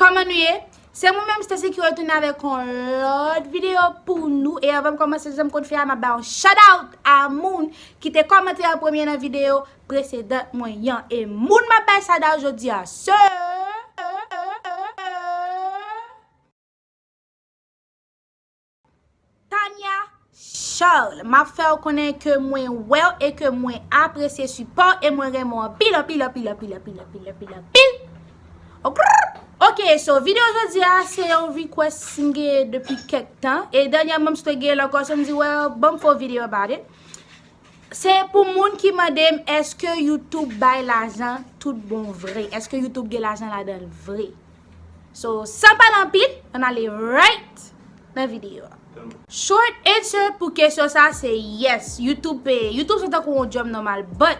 Kòman nou ye? Se mwen menm Stacy ki retounen avèk yon lòt videyo pou nou e avan m kòmanse jan m konn fè a m ap bay yon shoutout a moun ki te kòmante an premye nan videyo presedan mwen an e moun m ap bay shoutout jodi a se Tania Charles map fèw konnen ke mwen wèw e ke mwen apresye sipòw e mwen renmen w anpil anpil anpil anpil anpil anpil anpil anpil okrrrrrr ok so video jodi a se yon request m gen depi kèk tan e dènyèman m sot gen l ankò so m di well banm fè yon video about it se pou moun ki mandem eske youtube bay lajan tout bon vre eske youtube gen lajan ladanl vre. So san pale anpil an ale right nan video a. Short answer pou kesyon sa se yes YouTube peye. YouTube se tankou yon job normal but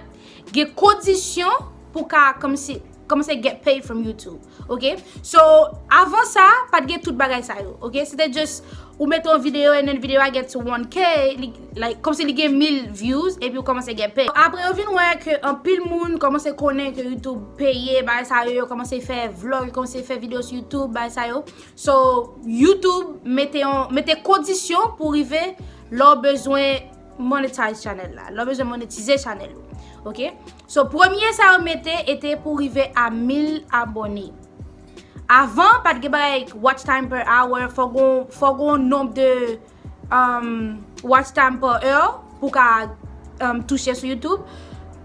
gen kondisyon pou ka kòmsi kòmanse get paid from YouTube ok. So avan sa pat gen tout bagay sa yo ok se te just ou mete yon video and then video a gets 1k. Like, kòmsi li gen 1000 views epi ou kòmanse gen pay. Apre yo vin wè ke anpil moun kòmanse konnen ke YouTube peye, bagay sa yo, yo kòmanse fè vlog, yo kòmanse fè video sou YouTube, bagay sa yo. So, YouTube mete yon, mete kondisyon pou rive lè w bezwen monetize channel la. Lè w bezwen monetize channel ou. Ok? So, premye sa yo mete ete pou rive a 1000 abone. Avan, pat gen bagay watch time per hour, fò gen yon, fò gen yon nomb de watch time pa heure pou ka touche sou youtube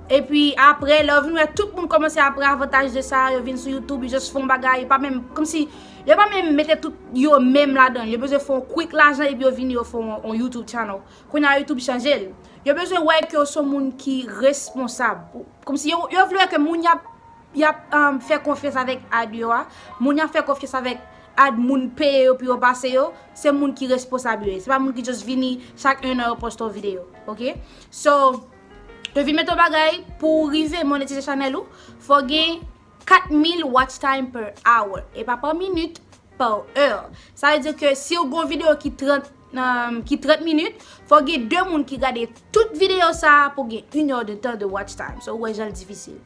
epi apre lè ou vin wè tout moun komanse ap pran avantaj de sa yo vin sou youtube yo just fon bagay yo pa menm komsi yo pa menm mete tout yo menm ladan yo bezwen fon quick lajan epi yo vini yo fon yon youtube channel kounye a youtube chanje l yo bezwen wè ke ou son moun ki responsab komsi yo vle wè ke moun yap Yap fè konfyans avèk ad yo a, moun yap fè konfyans avèk ad moun peye yo pou yo pase yo, se moun ki responsab yo ye, se pa moun ki just vini chak 1 an yo poste yon videyo ok, so yo vin mete yon bagay pou ou rive monetize chanèl ou fò gen 4000 watch time per hour, e pa pa minit, per heure, sa vle di ke siw gen yon videyo ki 30. ki 30 minit, fò gen 2 moun ki gade tout videyo sa a pou gen 1 or 2 tan de watch time. So, wè jan l difisil.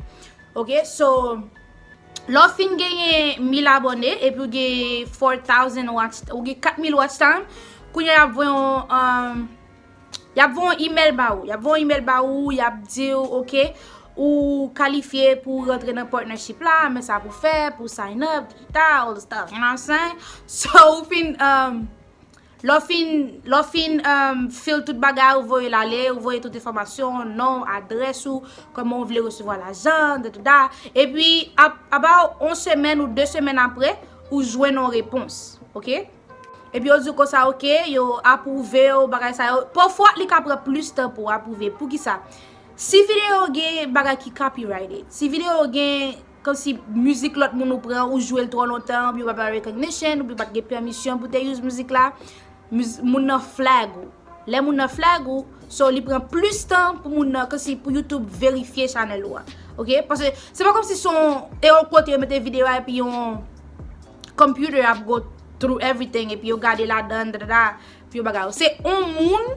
Ok, so, lò fin genyen 1000 abone, epi ou gen 4000 watch, ou gen 4000 watch time, kounye y ap voye yon, y ap voye yon email ba ou. Y ap voye yon email ba ou, y ap di ou, ok, ou kalifye pou rantre nan partnership la, men sa pou fè, pou sign up, digital, stuff, you know what I'm saying? So, ou fin, um... Lè w fin, lè w fin fill tout bagay ou voye l ale, ou voye tout enfòmasyon, non w, adrès ou, kòman ou vle resevwa lajan, dadada, epi about yon semèn ou de semèn apre, ou jwenn yon repons. Ok? Epi yo di w konsa ok, yo apwouve w, bagay sa yo. Pafwa li ka pran plis tan pou apwouve. Poukisa? Si videyo gen bagay ki copyrighted, si videyo gen. Komsi mizik lòt moun ou pran ou jwel trò lontan oubyen ou pa bay recognition oubyen ou pat gen permission pou te use mizik la moun nan flag ou lè moun nan flag ou so li pran plis tan pou moun nan komsi pou YouTube verifye chanèl ou a ok pase se pa komsi son e yon kote yo mete video a epi yon computer ap go through everything epi yo gade ladan dadada pi yo bagay yo se yon moun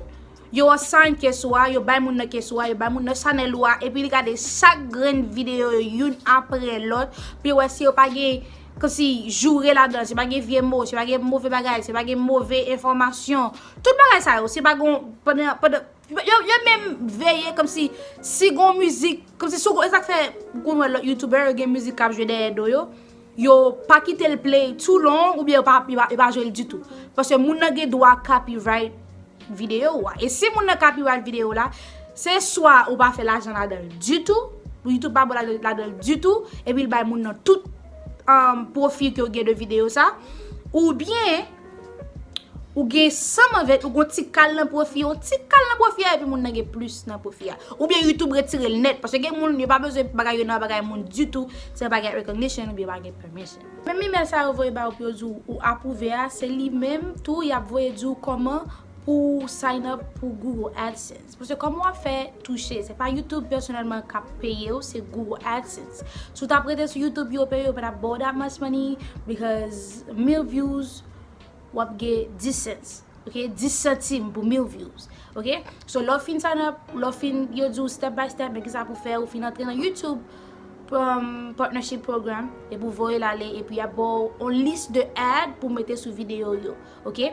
Yo assign keso a, yo bay moun nan keso a, yo bay moun nan chanèl ou a, epi li gade chak grenn videyo yo youn apre lòt, pou yo wè si yo pa gen, kòmsi, joure ladan, si yo pa gen vye mo, si yo pa gen move bagay, si yo pa gen move enfòmasyon, tout bagay sa yo, si yo pa gon, pandan, pandan, yo, yo menm veye kòmsi, si gon mizik, kòmsi si w gon, e sak fè, ou konn wè lòt youtubè yo gen mizik kap jwe dèyè do yo. Yo pa kite l play too long oubyen yo pa jwe l ditou. Paske moun nan gen dwa copyright videyo ou a. E si moun nan copyright videyo ou la, se swa ou pa fè lajan ladan l ditou, YouTube pa ba w ladan l ditou, epi l bay moun nan tout profit ke w gen de videyo sa, oubyen. Ou gen sa mavèt, ou gon ti kal nan pwofi, yon ti kal nan pwofi a epi moun nan gen plis nan pwofi a. Ou byen YouTube retire l nèt, paske gen moun yo pa bezwen bagay yo nan bagay moun ditou, se pa gen recognition ou byen pa gen permission. Menm email sa yo voye ba ou pou yo di w ou apwouve a, se li menm tou y ap voye di w kòman pou w sign up pou Google AdSense. Se paske kòman wap fè touche, se pa YouTube pèsonèlman kap peyew, se Google AdSense. Si w tap rete sou YouTube yo peyew, yo pa tap baw that much money because 1000 views wap gen 10 cents, ok, 10 santim pou 1000 views, ok. So lè w fin sign up, lè w fin, yo diw step by step men kisa pou w fè, ou fin antre nan YouTube partnership program, epi w voye l ale, epi yap baw on list de ad pou w mete sou videyo yo. Ok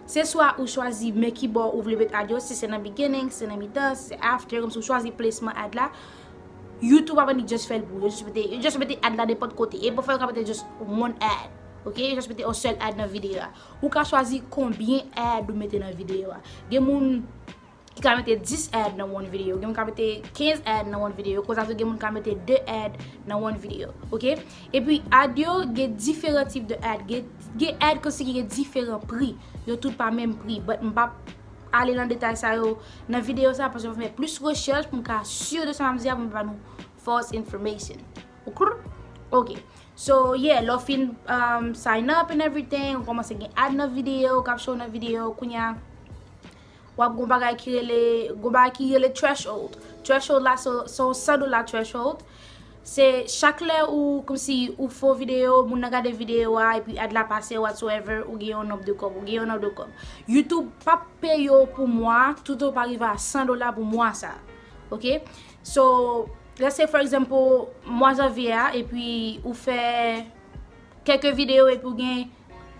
Se swa ou chwazi men ki bò ou vle met ad yo, si se nan beginning, si se nan mitan, si se after, kòmsi ou chwazi plasman ad la, YouTube ap annik just fèl pou ou, yo just mete, yo just mete ad la nenpòt kote, e pou fè yo ka mete just one ad, ok, yo just mete yon sèl ad nan videyo a. Ou ka chwazi konbyen ad ou mete nan videyo a. Gen moun. ki ka mete 10 ad nan one video, gen moun ka mete 15 ad nan one video, konsa tou gen moun ka mete 2 ad nan one video, ok? E pi ad yo gen diferan tip de ad, gen ad konsi ki gen diferan pri, yo tout pa menm pri, but m pap ale nan detay sa yo nan video sa, paske m ap fè plis rechèch pou m ka sur de sa m ap di a, pou m pa ban nou false information, ok? Ok, so yeah, lè w fin sign up and everything, ou kòmanse gen ad nan video, ou kap show nan video, kounya wap gon bagay ki rele, gon bagay ki rele threshold. Threshold la se yon 100 dola threshold. Se chak lè ou kòmsi ou fè yon videyo, moun nan gade videyo a epi ad la pase whatsoever, ou gen yon nonb de kòb, ou gen yon nonb de kòb. YouTube pap peye w pou mwa a tout otan ou pa rive a 100 dola pou mwa sa a. Ok? So, let's say for example, mwa janvye a epi ou fè. Kèlke video epi ou gen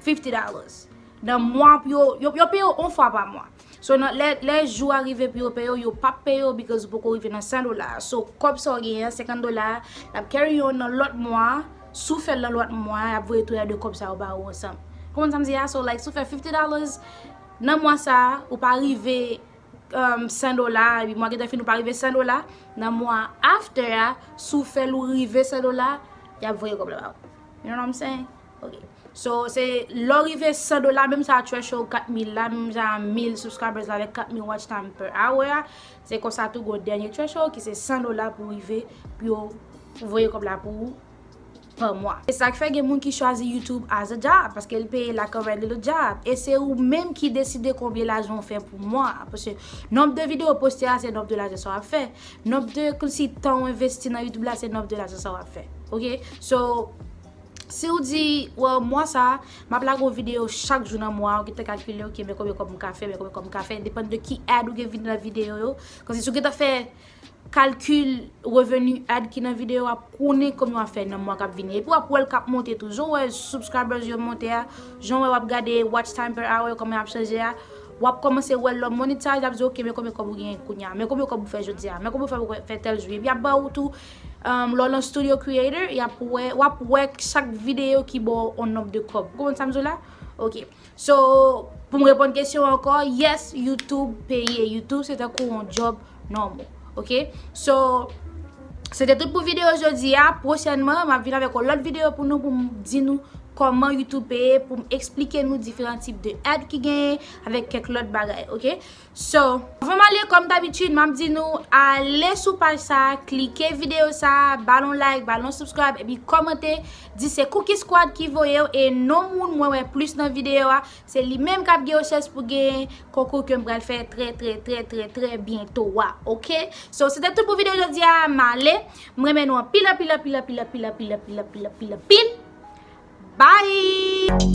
50 dollars. Nan mwa pou yo, yo peye ou on fwa pa mwa. So nan lè jou a rive pou yo peye ou, yo pap peye ou because ou poko rive nan 100 dola. So kòb sa ou genyen an, 50 dola a, lap carry on nan lòt mwa a. Si ou fèl nan lòt mwa a, yap voye tou lè 2 kòb sa yo ba ou ansanm. Konprann sa m di a? So like si ou fè 50 dollars nan mwa sa a, ou pa rive. 100 dola mwa gentan fini ou pa rive 100 dola nan mwa after a si w fè l ou rive 100 dola y ap voye kòb la ba ou you know what I'm saying ok so se lè w rive 100 dola menm sa threshold 4000 la menm jan a 1000 subscribers la avèk 4000 watch time per hour a se konsa tou gen yon dènye threshold ki se 100 dola pou rive pou yo voye kòb la pou ou pa mwa. Se sak fè gen moun ki chwazi YouTube as a job paske li peye like a regular job e se ou menm ki deside konbyen lajan ou fè pou mwa a paske nomb de video ou poste a se nomb de lajan sa wap fè nomb de klsi tan ou envesti nan YouTube la se nomb de lajan sa wap fè ok so si ou di well mwa sa map lage yon video chak jou nan mwa a ou gentan kalkile ok men konbyen kob mka fè men konbyen kob mka fè depann de ki ad ou gen nan video yo koz si ou gentan fè kalkil revenu ad ki nan video a pou konnen kòman wap fè nan mwa kap vini epi wap wèl kap monte tou jan ou wè subscribers yo monte a jan ou wè wap gade watch time per hour yo kòman yap chanje a wap kòmanse wèl lò monetize lap di ok men konbyen kòb ou genyen kounya men konbyen kòb ou fè jodia men konbyen kòb ou fè tèl jou epi yap baw tou lè ou nan studio creator yap wè wap wè chak video ki baw on nonb de kòb ou konprann sam di w la ok. So poum reponn kesyon an ankò yes youtube peye youtube se tankou yon job normal ok so se te tout pou video jodi a pwochènman map vin avèk yon lòt video pou nou poum di nou kòman youtube peye poum esplike nou diferan tip de ad ki genyen avèk kèk lòt bagay ok. So, avan m ale kòm dabitid m ap di nou ale sou paj sa, klike videyo sa, ba l yon like, ba l yon subscribe epi kòmante di se Cookie Squad ki voye w e non moun mwen wè plis nan videyo a, se li menm k ap gen yon chans pou genyen konkou ke m pral fè trè trè trè trè trè byento a ok. So, se te tout pou videyo jodi a, m ale, m renmen nou anpil anpil anpil anpil anpil anpil anpil anpil anpil anpil Bye!